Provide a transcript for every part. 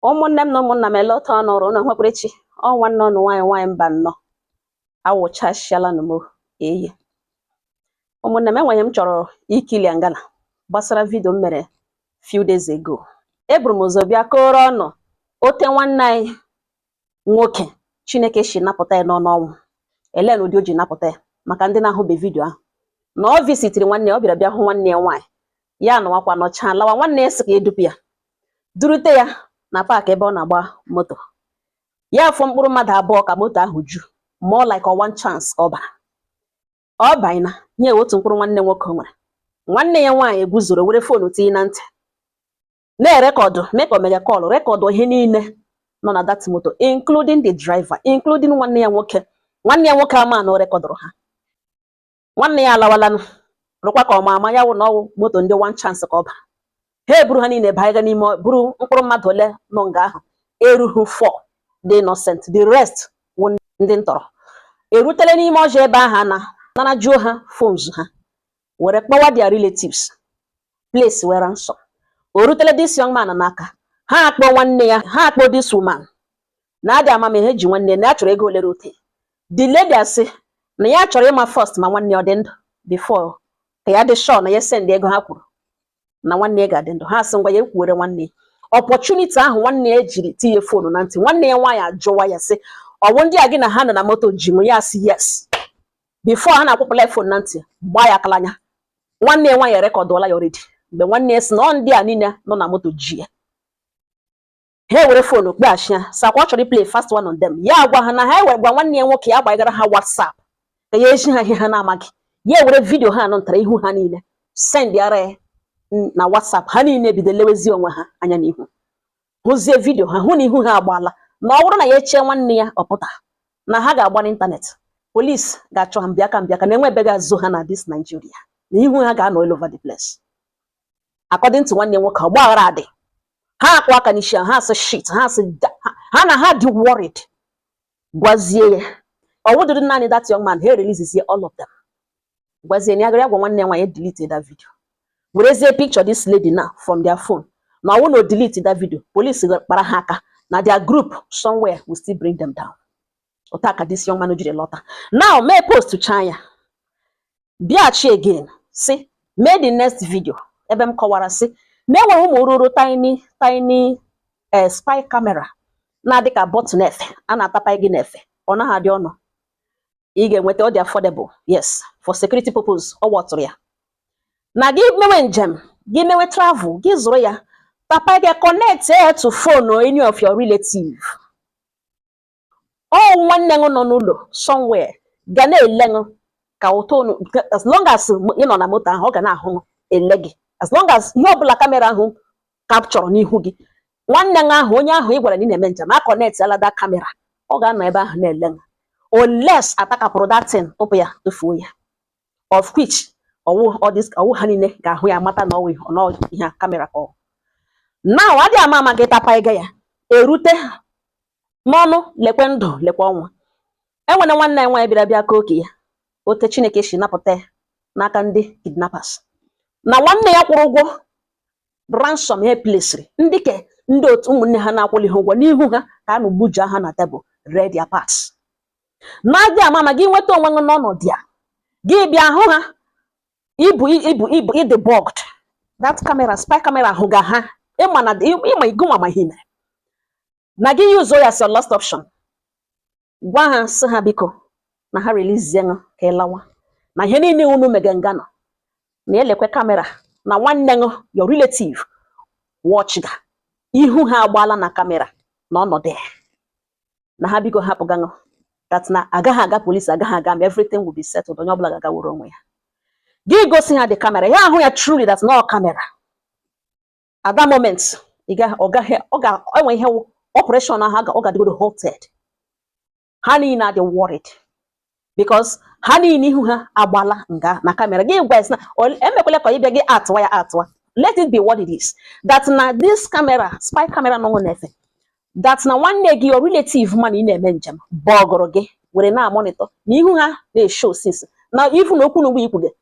ụmụnne m na ụmụnna m ele ote ọnụ ọrụ ụnụ nwekwara echi ọ nwanne ọnụ nwaanyị nwaanyị Mbano awụchasịala nụ m eyi ụmụnne m enwe ihe m chọrọ iclear ngana gbasara vidio m mere few days ago eburu m ụzọ bịa kọrọ ọnụ ote nwanne anyị nwoke Chineke si napụta ya n'ọnụ ọnwụ elee na ụdị o ji napụta ya maka ndị na-ahụbe vidio ahụ na ọ visitiri nwanne ya ọ bịara bịa hụ nwanne ya nwaanyị ya anọwakwa nọchaa lawa nwanne ya sị ka edupu ya durute ya na paakị ebe ọ na-agba moto ya afọ mkpụrụ mmadụ abụọ ka moto ahụ ju more like one chance ka ọ bara ọ bụ naanị otu mkpụrụ nwanne nwoke o nwere nwanne ya nwaanyị eguzoro were foonu tinye na ntị na-erekọdụ mee ka o mega kọlụ rekọdụ ihe niile nọ na that moto including the driver including nwanne ya nwoke nwanne ya nwoke ama na o rekọdụrụ ha nwanne ya alawalanụ rụkwa ka ọ ma ama ya wụ na ọwụ moto ndị one chance ka ọ bara ha eburu ha niile baa n'ime buru mkpụrụ mmadụ ole nọ nga ahụ erughị four dị innocent the rest wụ ndị ntọrọ erutele n'ime ọhịa ebe ahụ na narajuo ha phones ha were kpọwa their relatives placewe ransom o rutele this young man n'aka ha akpọ nwanne ya ha akpọ this woman na adị amamihe ji nwanne na ya chọrọ ego olere ote the lady asị na ya chọrọ ịma first ma nwanne ọ dị ndụ before ka ya dị sure na ya send ego ha kwuru na nwanne ya ga-adị ndụ ha asị ngwa ya ekwuwere nwanne ya opportunity ahụ nwanne ya jiri tinye fonu na ntị nwanne ya nwaanyị ajụwa ya sị ọwụ ndị a gị na ha nọ na moto ji gị ya sị yes before ha na-akwụpụla fon na ntị gbaa ya aka l'anya nwanne ya nwaanyị erekọdụọla ya already mgbe nwanne ya sị na ọ ndị a niile nọ na moto ji ya ha ewere fonu kpọghachi ya sị ọkwa ọ chọrọ iplay fast one on them ya gwa ha na ha ewere gwa nwanne ya nwoke ya gbaghere ha WhatsApp ka ya ezi ha ihe ha na-amaghị ya ewere vidio ahụ nwetara ihu ha niile send ara ya na WhatsApp ha niile bido lewezi onwe ha anya n'ihu hụzie vidio ha hụ na ihu ha agbaala na ọ bụrụ na ya echee nwanne ya ọ pụta na ha ga-agba n'ịntanetị polisi ga-achọ ha mbịaka mbịaka na enwe ebe ga-ezo ha na this Nigeria na ihu ha ga-anọ all over the place according to nwanne ya nwoke ọgbaghara adị ha akụ aka n'isi ha asị shit ha asị ha na ha dị worried gwazie ya ọwụdịghị naanị that young man ha releasezie all of them gwazie na ya gara gwa nwanne ya nwaanyị delete that video werezie picture this lady now from their phone na ọwụ na o delete that video police kpara ha aka na their group somewhere will still bring them down ote a ka this young man jiri lọta now m postchaa ya bịaghachi again sị mee the next video ebe m kọwara sị na enwere ụmụ oruru tiny tiny eh, spy camera na-adị ka button n'efe a na-atapa gị n'efe ọ naghị adị ọnụ ị ga-enweta ọ dị affordable yes for security purpose ọ wụtụrụ ya na gị mewe njem gị mewe travel gị zụrụ ya tapa gị connect ya to phone of any of your relative ọ nwanne ṅụ nọ n'ụlọ somewhere ga na-ele ṅụ ka ụtọ unu as long as ị nọ na moto ahụ ọ ga na-ahụ ṅụ ele gị as long as ihe ọbụla kamera ahụ kapchọrọ n'ihu gị nwanne ṅụ ahụ onye ahụ ị gwara na ị na-eme njem a kọnetịala that kamera ọ ga-anọ ebe ahụ na-ele ṅụ unless a takapụrụ that thing tụpụ ya tụfuo ya of which ọ wụ ọ wụ ha niile ga-ahụ ya mata na ọ wụ ihe kamera ka ọ na adịghị ama ama gị tapa ego ya erute n'ọnụ lekwe ndụ lekwe ọnwụ enwere nwanne anyị nwaanyị bịara bịa kọọ ke ya ote Chineke si napụta ya n'aka ndị kidnappers na nwanne ya kwụrụ ụgwọ ransom a plesiri ndị ke ndị otu ụmụnne ha na-akwụlihụ ụgwọ n'ihu ha ka anụ gbuja ha na tebụl ree their parts na adịghị ama ama gị nweta onwe gị n'ọnọdụ ya gị bịa hụ ha ibu ibu ibu ị dị bugged that camera spy camera hụga ha ịma na ịma igonwa ma ihe mere na gị yuzuo ya as your last option gwa ha sị ha biko na ha relizie ṅụ ka ị lawa na ihe niile unu mega nga nọ na elekwe kamera na nwanne ṅụ your relative watch ga ihu ha agbaala na kamera na ọnọdụ ya na ha biko hapụ gaṅụ that na agaghị aga polisi agaghị aga ma everything will be settled onye ọbụla ga-agaworo onwe ya gị gosi ha the camera ha ahụ ya truly that na ọ kamera at that moment ị gaghị ọ gaghị ọ ga-enwe ihe operation ahụ ọ ga-adịgodo halted ha niile adị worried because ha niile ihu ha agbala nga na kamera gị gwa na emekwele ka ịbịa gị atụwa ya atụwa let it be what it is that na this camera spy camera nọ n'efe that na nwanne gị your relative ma na ị na-eme njem bọgụrụ gị were na-amonitọ na ihu ha na-eshow since na ifu na okwu na ugbo ikwu gị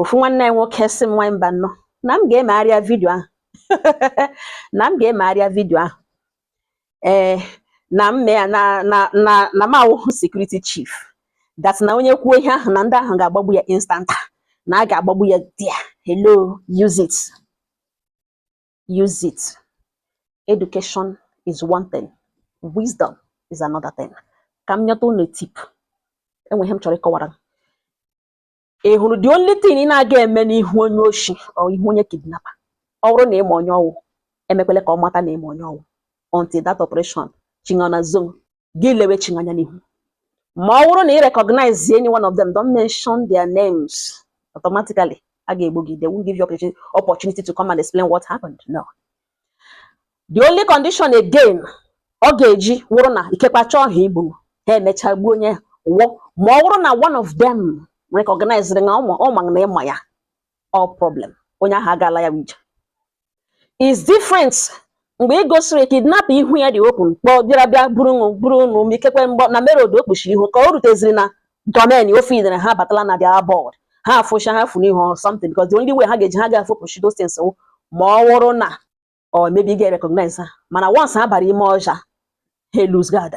ofu nwanne anyị nwoke sị m nwa mba no na m ga-emegharịa vidio ahụ na m ga-emegharịa vidio ahụ ee eh, na m mee na na na na m awụhụ security chief that na onye kwuo ihe ahụ na ndị ahụ ga-agbagbu ya instanta na a ga-agbagbu ya there hello use it use it education is one thing wisdom is another thing ka m nyeta unu tip enwe ihe m chọrọ ịkọwara ị hụrụ the only thing ị na-aga eme n'ihu onye oshi or ihu onye kidnapper ọ wụrụ na ị ma onye ọ wụ emekwele ka ọ mata na ị ma onye ọ wụ until that operation chi gị na-azọ gị lewe chi gị anya n'ihu ma ọ wụrụ na ị recognize any one of them don't mention their names automatically a ga-egbu gị they won't give you opportunity to come and explain what happened no the only condition again ọ ga-eji wụrụ na ikekwa chọọ ha igbu ha emechaa gbuo onye wụ ma ọ wụrụ na one of them recognize na ọ ma na ị ma ya ọ problem onye ahụ agaala ya ije is different mgbe ị gosiri kidnap ihu ya dị open kpọọ bịara bịa buru buru unu ikekwe mgbe ọ nọ na main road o kpuchiri ihu ka o ruteziri na domain ọ feel na ha abatala na their abode ha afụcha ha furu ihe or something because the only way ha ga-eji ha ga-afụpụchi those things wụ ma ọ wụrụ na or maybe ị ga-recognize ha mana once ha bara ime ọhịa ha lose guard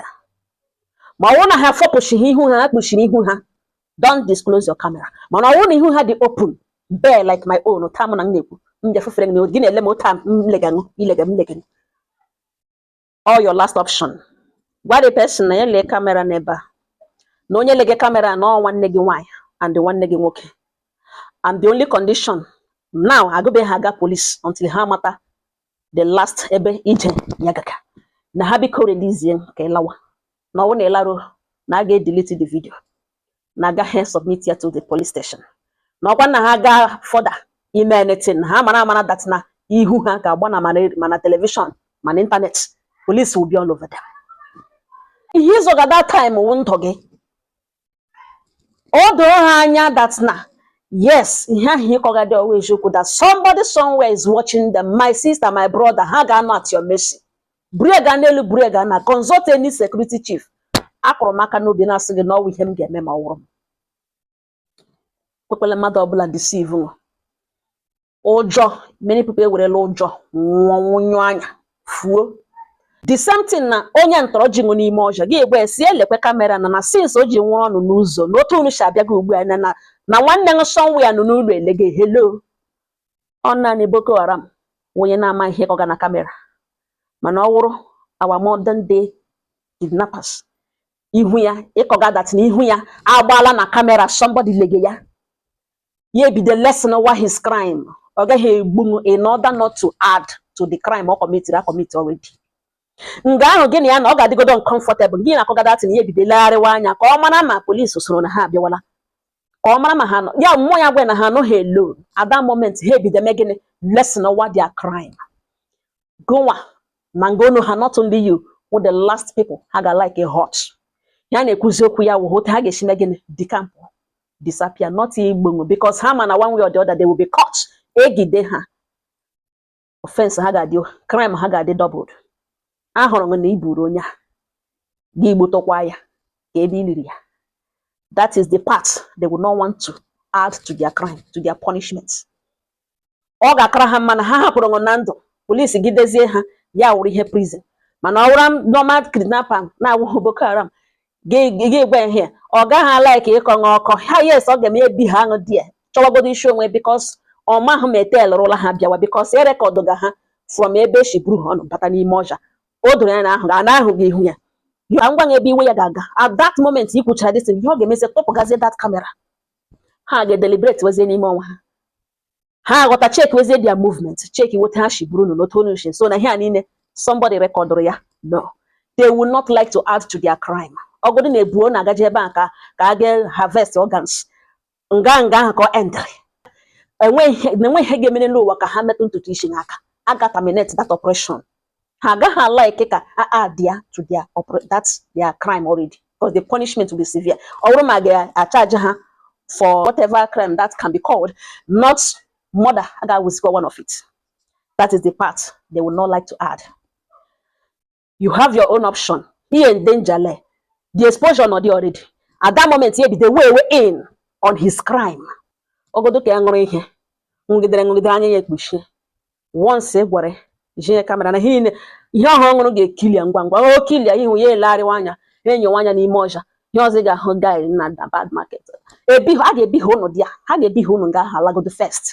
ma ọ wụrụ na ha fọpụchighị ihu ha ha kpuchiri ihu ha don't disclose your camera mana ọ wụrụ na ihu ha dị open bare like my own taa mụ na m na-ekwu m bịa fefere gị na gị na-ele m otu a m lega gị ị lega m lega gị ọ your last option gwa the person na ya lee kamera n'ebe a na onye lege kamera na ọ nwanne gị nwaanyị and nwanne gị nwoke and the only condition now agụbe ha aga police until ha mata the last ebe ije ya gaga na ha biko release ka ị lawa na ọ wụ na ị laruo na a ga-edelete the video na agaghị submit ya to the police station na ọ kwa na ha gaa further ime anything ha mara amara that na ihu ha ga-agba na ma na telivishọn ma na ịntanetị police will be all over them ihe ị zọga that time wụ ndụ gị o doo ha anya that na yes ihe ahụ ị kọgadị ọ wụ eziokwu that somebody somewhere is watching them my sister my brother ha ga-anọ at your mercy buru ya gaa n'elu buru ya gaa na consult any security chief akụrụ m aka n'obi na-asị gị na ọ wụ ihe m ga-eme ma ọ wụrụ m ekwekwele mmadụ ọbụla deceive gị ụjọ many people ewerela ụjọ nwụọ nwụnyụ anya fuo the same thing na onye ntọrọ ji gị n'ime ọhịa gị agwa ya sị lekwe kamera na na since o ji nwụrụ unu n'ụzọ na otu unu si abịa gị ugbu a na na- na nwanne m somewhere nọ n'ụlọ elege hello ọ naanị boko haram wụ onye na-ama ihe ị kọga na kamera mana ọ wụrụ our modern day kidnappers ihe ahụ ị kọga that na ihu ya agbaala na kamera somebody lege ya ya ebido lessenwa his crime ọ gaghị egbunwu in order not to add to the crime ọ kọmitiri akọmiti already nga ahụ gị na ya na ọ ga-adịgodo uncomfortable gị na-akọga that na ya ebido legharịwa anya ka ọ mara ma polisi soro na ha abịawala ka ọ mara ma ha nọ near mmụọ ya agwa ya na ha anọghị alone at that moment ha ebido mee gịnị lessenwa their crime gụnwa na nga onu ha not only you wụ the last people ha ga likely hurt ha na-ekwuzi okwu ya wụ otu ha ga-esi mee gịnị decamp disappear not igbu ṅụ because ha ma na one way or the other they will be caught egide ha offense ha ga-adị crime ha ga-adị doubled ahụrụ m na i buru onye a gị gbotokwa ya ka ebe i liri ya that is the part they will not want to add to their crime to their punishment ọ ga-akara ha mma na ha hapụrụ ṅụ na ndụ polisi gidezie ha ya wụrụ ihe prison mana ọ wụrụ normal kidnapper na-awụghị Boko Haram gị gwa ihe ọ gaghị like ịkọ ṅụ ọkọ ha yes ọ ga-eme ebiha ṅụ there chọwagodo isi onwe because ọ mahụ ma e tailụrụla ha bịawa because e rekọdụgo ha from ebe e si buru ha ọnụ bata n'ime ọhịa o doro ya na a hụgo na a hụgo ihu ya ya ngwa ebe iwe ya ga-aga at that moment ị kwuchara this ihe ọ ga-emezi tụpụgazie that camera ha ga-edeliberate wezie n'ime onwe ha ha aghọta cheki wezie their movement chekiwe otu ha shi buru n'otu onye shi so na ihe a niile somebody rekọdụrụ ya no they will not like to add to their crime ọ wụdị na e bu ụnụ agaje ebe a ka ka a ga harvest organs nga nga ahụ ka ọ endịrị enweghị ihe ga-emere n'ụwa ka ha metụ ntutu isi ụnụ aka a ga terminate that operation ha agaghị like ka a add ya to their that their crime already because the punishment will be severe ọ bụrụ ma a ga-acharge ha for whatever crime that can be called not murder a ga-awụzikwa one of it that is the part they will not like to add you have your own option he in danger the exposure nọ dị already at that moment ya ebido weigh weigh in on his crime ọ wụdị ka ya ṅụrụ ihe ṅụgidere ṅụgidere anya ya ekpuchie once ị gwara ya i ji kamera na ihe ihe ọ hụrụ ọ ṅụrụ ga-eclear ngwa ngwa o clear ihu ya elegharịwa anya enyowa anya n'ime ọhịa ihe ọzọ ị ga-ahụ guy na bad market ebiha ha ga-ebiha ụnụ there ha ga-ebiha ụnụ nga ahụ alagodo first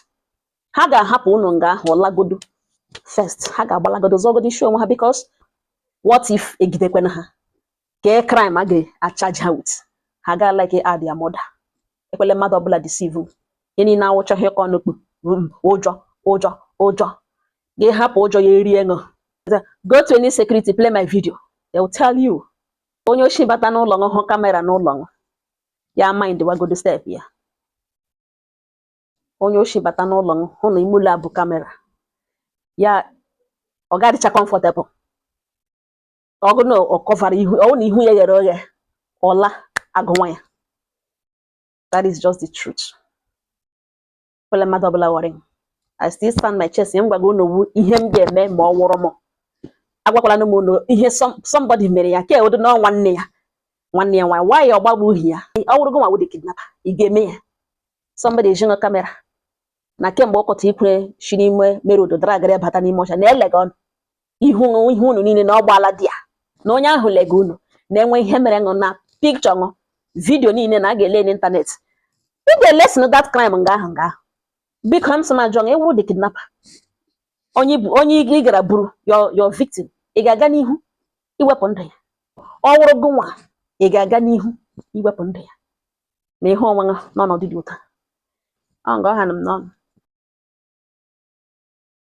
ha ga-ahapụ ụnụ nga ahụ lagodo first ha ga-agbalagodo zọgodo isi onwe ha because what if egidekwena ha kee crime a ga-acharge ha with ha ga like add ya murder ekwele mmadụ ọbụla deceive ihe niile a wụcha ihe ka ọnụ kpu ụjọ ụjọ ụjọ gị hapụ ụjọ ya erie ṅụ go to any security play my video they will tell you onye oshi bata n'ụlọ ṅụ hụ kamera n'ụlọ ṅụ ya mind wagodo step ya onye oshi bata n'ụlọ ṅụ hụ na ime ụlọ a bụ kamera ya ọ ga-adịcha comfortable ọ wụ na ọ kọvara ihu ọ na ihu ya ghere oghe ụla agụwa ya that is just the truth ekwele mmadụ ọbụla worry I still stand my chest ihe m gwago unu wụ ihe m ga-eme ma ọ wụrụ m agwakwala m unu ihe somebody mere ya ka ewedo na nwanne ya nwanne ya nwaanyị why ọ gbagbuhi ya ọ wụrụ gị nwa wụ the kidnapper ị ga-eme ya somebody ejinọ kamera na kemgbe ọkọta ikwere si n'ime mere odo dara agara bata n'ime ọcha na-elega ọnụ ihu ihe unu niile na ọgbaala dị ya na onye ahụ lega unu na-enwe ihe mere ṅụ na picture ṅụ video niile na a ga-ele n'internet ị ga-elesịn that crime nga ahụ nga ahụ biko m sị m jụọ ị wụrụ the kidnapper onye ị gara buru your victim ị ga-aga n'ihu iwepụ ndụ ya ọ wụrụ gị nwa ị ga-aga n'ihu iwepụ ndụ ya na ihe onwe ha n'ọnọdụ dị otu a ọ nga ọ ha nọ m n'ọnụ